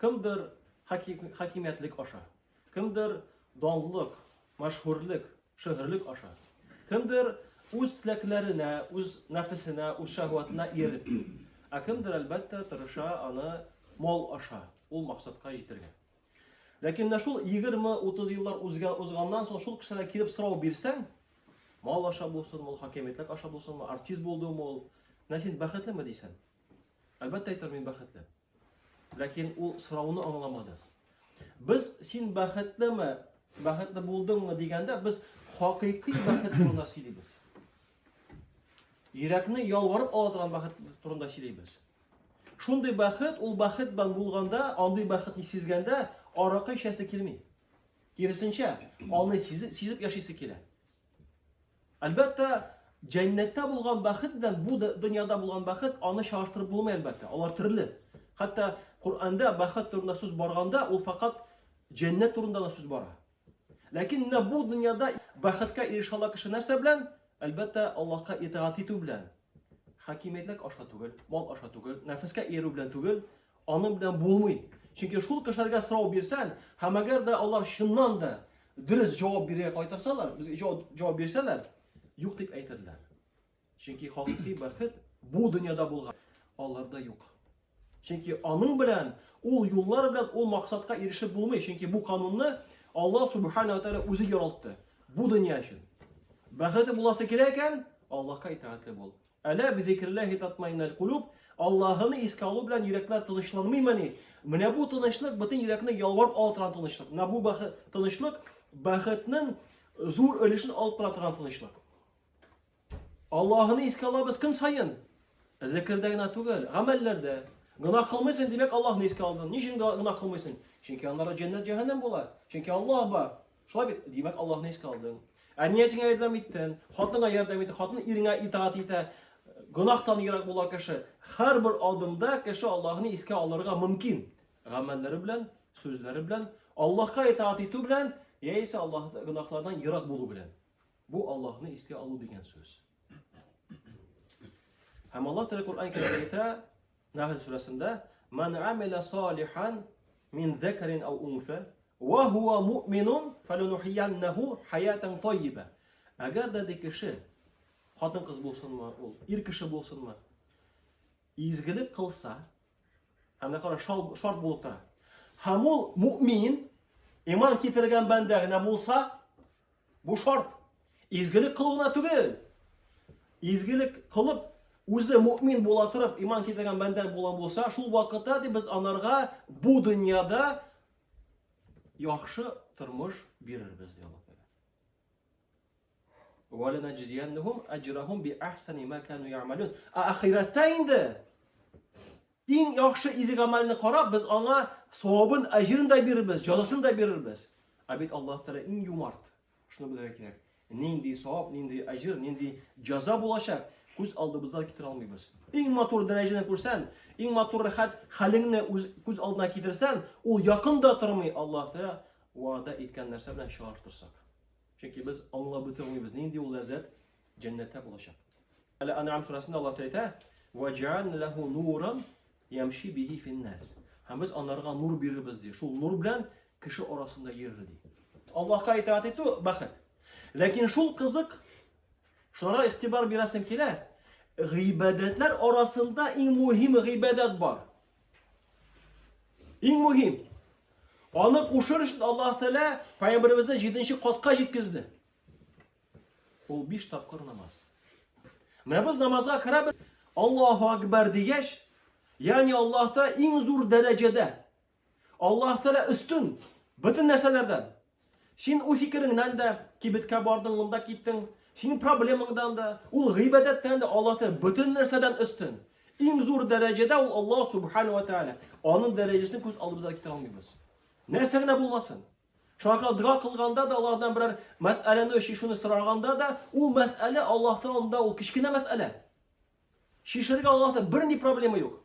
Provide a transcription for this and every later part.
Кемдер хакимиятлек аша, кемдер данлык, мәшһүрлек, шөһрлек аша, кемдер үз теләкләренә, үз нәфесенә, үз шәһвәтенә ияреп, ә кемдер, әлбәттә, тырыша аны мал аша, ул максатка җитергә. Ләкин менә шул 20-30 еллар узган узганнан соң шул кешеләргә килеп сорау бирсәң, мал аша булсын, ул хакимиятлек аша булсынмы, артист булдымы ул, менә син бәхетлеме дисәң. Әлбәттә әйтер мин бәхетле. Ләкин ул сорауны аңламады. Без син бәхетлеме, бәхетле булдыңмы дигәндә, без хакыйкый бәхет турында сөйлибез. Йөрәкне ялварып ала торган бәхет турында сөйлибез. Шундый бәхет, ул бәхет белән булганда, андый бәхетне сизгәндә, аракы эчәсе килми. Киресенчә, аны сизеп, сизеп яшисе килә. Әлбәттә, җәннәттә булган бәхет белән бу дөньяда булган бәхет аны чагыштырып булмый әлбәттә. Алар төрле. Хәтта Коръәндә бәхет турында сүз барганда, ул факат җәннәт турында да сүз бара. Ләкин менә бу дөньяда бәхеткә ирешә ала кеше нәрсә белән? Әлбәттә, Аллаһка итагать итү белән. Хакимиятлек аша түгел, мал аша түгел, нәфескә иярү белән түгел, аның белән булмый. Чөнки шул кешеләргә сорау бирсәң, һәм әгәр дә алар чыннан да дөрес җавап бирергә кайтарсалар, безгә җавап бирсәләр, юк дип әйтерләр. Чөнки хакыйкый бәхет бу дөньяда булган, аларда юк. Чөнки аның белән, ул юллар белән ул максатка ирешеп булмый. Чөнки бу канунны Аллаһ Субхана ва Тәгалә үзе яралты. Бу дөнья өчен. Бәхете буласы килә икән, Аллаһка итагатьле бул. Әлә би зикрилләһи татмаиннал кулуб, Аллаһны искә алу белән йөрәкләр тынычланмыймыни? Менә бу тынычлык бөтен йөрәкне ялварып ала торган тынычлык. Менә бу бәхет тынычлык бәхетнең зур өлешен алып тора торган тынычлык. Аллаһыны искә алабыз көн саен. Зекердә генә түгел, гамәлләрдә. Гына кылмыйсың, димәк, Аллаһны искә алдың. Ни өчен гына кылмыйсың? Чөнки аннары җәннәт җәһәннәм була. Чөнки Аллаһ бар. Шулай бит, димәк, Аллаһны искә алдың. Ә ниятеңә ярдәм иттең, хатынга ярдәм иттең, хатын иреңә итаат итә. Гөнаһтан ерак була кеше. Һәрбер адымда кеше Аллаһны искә алырга мөмкин. Гамәлләре белән, сүзләре белән, Аллаһка итаат итү белән, яисә Аллаһ гөнаһлардан ерак булу белән. Бу Аллаһны искә алу дигән сүз. Һәм Аллаһ Тәгалә Коръән Кәримдә әйтә, Нәхл сүрәсендә, "Ман амила салихан мин закарин ау унса, ва хуа муъминун, фаланухияннаху хаятан таййиба." Әгәр дә ди кеше, хатын кыз булсынмы, ул ир кеше булсынмы, изгелек кылса, һәм дә кара шарт булып тора. Һәм ул муъмин, иман китергән бәндә генә булса, Бу шарт. Изгелек кылуына түгел. Изгелек кылып, үзе мөмин була торып, иман китергән бәндә булган булса, шул вакытта дип без анарга бу дөньяда яхшы тормыш бирербез ди Аллаһ Тәгалә. Ва ланаҗзияннахум аҗрахум би ахсани ма кану я'малун. Ахирәттә инде Иң яхшы изге гамәлне карап, без аңа савабын, әҗерен дә бирербез, җәзасын да бирербез. Ә бит Аллаһ Тәгалә иң юмарт. Шуны белергә кирәк. Нинди савап, нинди әҗер, нинди җәза булачак, күз алдыбызда китерә алмыйбыз. Иң матур дәрәҗәне күрсән, иң матур рәхәт хәлеңне үз күз алдына китерсән, ул якында тормый Аллаһ Тәгалә вәгъдә иткән нәрсә белән чагыштырсак. Чөнки без аңлап бетермибез, нинди ул ләззәт, Җәннәттә булачак. Әле Анам сүрәсендә Аллаһ әйтә, "Ва җаан лаху нуран ямши бихи финнас." Һәм без анарга нур бирербез ди. Шул нур белән кеше арасында йөрер ди. Аллаһка итаат итү бәхет. Ләкин шул кызык. Шуңа игътибар бирәсем килә. Гыйбадәтләр арасында иң мөһим гыйбадәт бар. Иң мөһим. Аны кушыр өчен Аллаһ Тәгалә пәйгамбәребезне 7 катка җиткезде. Ул биш тапкыр намаз. Менә без намазга керәбез. Аллаһу акбар дигәч, ягъни Аллаһта иң зур дәрәҗәдә. Аллаһ Тәгалә өстен бөтен нәрсәләрдән. Син үз фикереңнән дә кибеткә бардың, монда киттең. Синең проблемаңдан да, ул гыйбадәттән дә Аллаһ Тәгалә бөтен нәрсәдән өстен. Иң зур дәрәҗәдә ул Аллаһ Субхану ва Тәгалә. Аның дәрәҗәсен күз алдыбыздан китә алмыйбыз. Нәрсә генә булмасын. Шуларга дога кылганда да, алардан берәр мәсьәләне чишүне сораганда да, ул мәсьәлә Аллаһтан алдында ул кечкенә мәсьәлә. Чишергә Аллаһта бернинди проблема юк.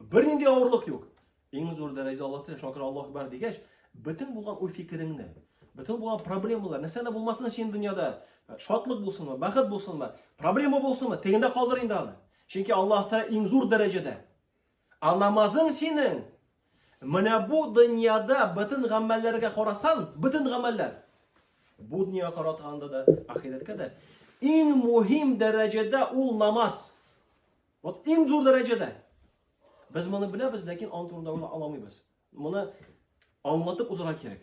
Бернинди авырлык юк. Иң зур дәрәҗәдә Аллаһ тәгәлә шакир Аллаһ бар дигәч, бөтен булган уй фикереңне, бөтен булган проблемалар, нәрсә дә булмасын син дөньяда, шатлык булсынмы, бәхет булсынмы, проблема булсынмы, тегендә калдыр инде аны. Чөнки Аллаһ тәгәлә иң зур дәрәҗәдә А намазың синең, менә бу дөньяда бөтен гамәлләргә карасан, бөтен гамәлләр, бу дөньяга каратганда да, ахирәткә дә, иң мөһим дәрәҗәдә ул намаз. Вот иң зур дәрәҗәдә. Без моны беләбез, ләкин аның турында уйлап аламыйбыз. Моны аңлатып узарга кирәк.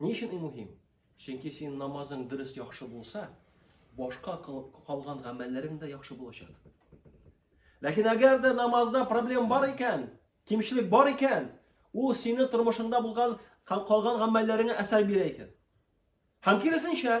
Ни өчен ул мөһим? Чөнки син намазың дөрес яхшы булса, башка калган гамәлләрең дә яхшы булачак. Ләкин әгәр дә намазда проблем бар икән, кимчелек бар икән, ул сине тормышыңда булган калган гамәлләреңә әсәр бирә икән. Һәм киресенчә,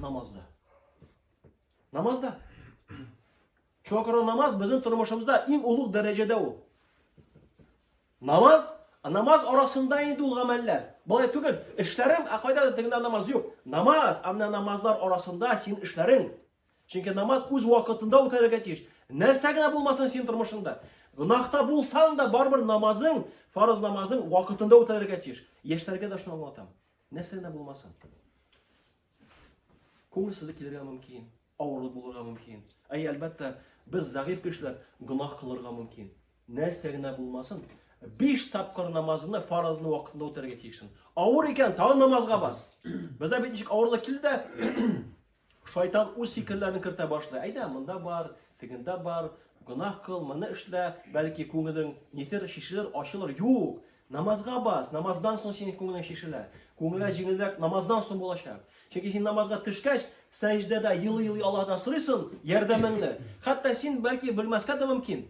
Намазда. Намазда. Шуңа күрә намаз безнең тормышымызда иң олуг дәрәҗәдә ул. Намаз, намаз арасында инде ул гамәлләр. Болай түгел, эшләрем, ә кайда да тегендә намаз юк. Намаз, ә менә намазлар арасында син эшләрең. Чөнки намаз үз вакытында үтәргә тиеш. Нәрсә генә булмасын син тормышында. Гынахта булсаң да барбер намазың, фарыз намазың вакытында үтәргә тиеш. Яшьләргә дә шуны аңлатам. Нәрсә генә булмасын. Күңелсезлек килергә мөмкин, авырлык булырга мөмкин. Әй, әлбәттә, без зәгыйфь кешеләр гөнаһ кылырга мөмкин. Нәрсә генә булмасын, биш тапкыр намазны фаразны вакытында үтәргә тиешсең. Авыр икән, тагын намазга бас. Бездә бит ничек авырлык килде дә, Шайтан үз фикерләрен кертә башлый. Әйдә, монда бар, тегендә бар, гөнаһ кыл, моны эшлә, бәлки күңелең нитер, чишелер, ачылыр. Юк! Намазга бас, намаздан соң синең күңелең чишелә. Күңелгә җиңелрәк намаздан соң булачак. Чөнки син намазга төшкәч, сәҗдәдә елый-елый Аллаһдан сорыйсың ярдәмеңне. Хәтта син бәлки белмәскә дә мөмкин.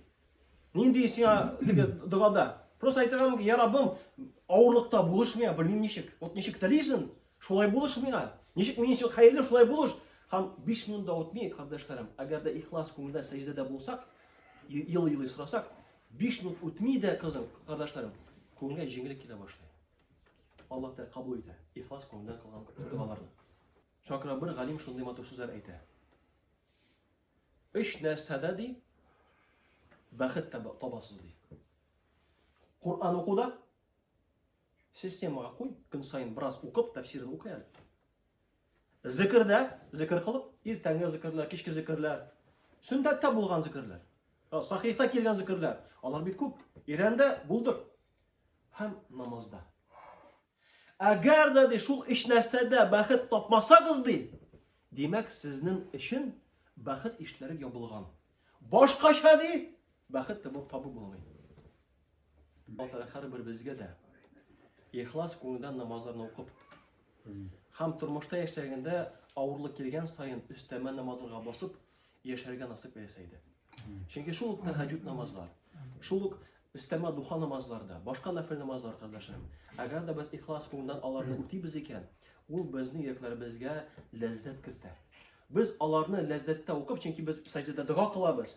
Нинди сиңа теге догада? Просто әйтергә мөмкин, я Раббым, авырлыкта булышмый, белмим ничек. Вот ничек телисең, Шулай булыш миңа. Ничек минем өчен хәерле, шулай булыш. Һәм 5 минут да үтми, кардәшләрем, әгәр дә ихлас күңелдән сәҗдәдә булсак, елый-елый сорасак, 5 минут үтми дә, кызым, кардәшләрем, күңелгә җиңеллек килә башлый. Аллаһ Тәгалә кабул итә. Ихлас күңелдән кылган дуаларны. Шакра бер галим шундый матур сүзләр әйтә. Өч нәрсәдә ди бәхет табасыз ди. Куран укуда, Системага куй, көн саен бераз укып, тәфсирен укый әле. Зикердә, зикер кылып, иртәнге зикерләр, кичке зикерләр, сүндәттә булган зикерләр, сахихта килгән зикерләр, алар бит күп. Ирәндә булдыр. Һәм намазда. Әгәр дә ди шул эш нәрсәдә бәхет тапмасагыз ди, димәк сезнең өчен бәхет ишләре ябылган. Башкача ди, бәхет табу булмый. Аллаһ һәрберебезгә дә ихлас күңелдән намазларны укып һәм тормышта яшьтәгендә авырлык килгән саен өстәмә намазларга басып яшәргә насыйп итсә иде. Чөнки шул ук тәһәҗҗүд намазлар, шул ук өстәмә духа намазларда, башка нафил намазлар кардәшләрем. Әгәр дә без ихлас күңелдән аларны үтибез икән, ул безнең йөрәкләребезгә ләззәт кертә. Без аларны ләззәттә укып, чөнки без сәҗдәдә дога кылабыз.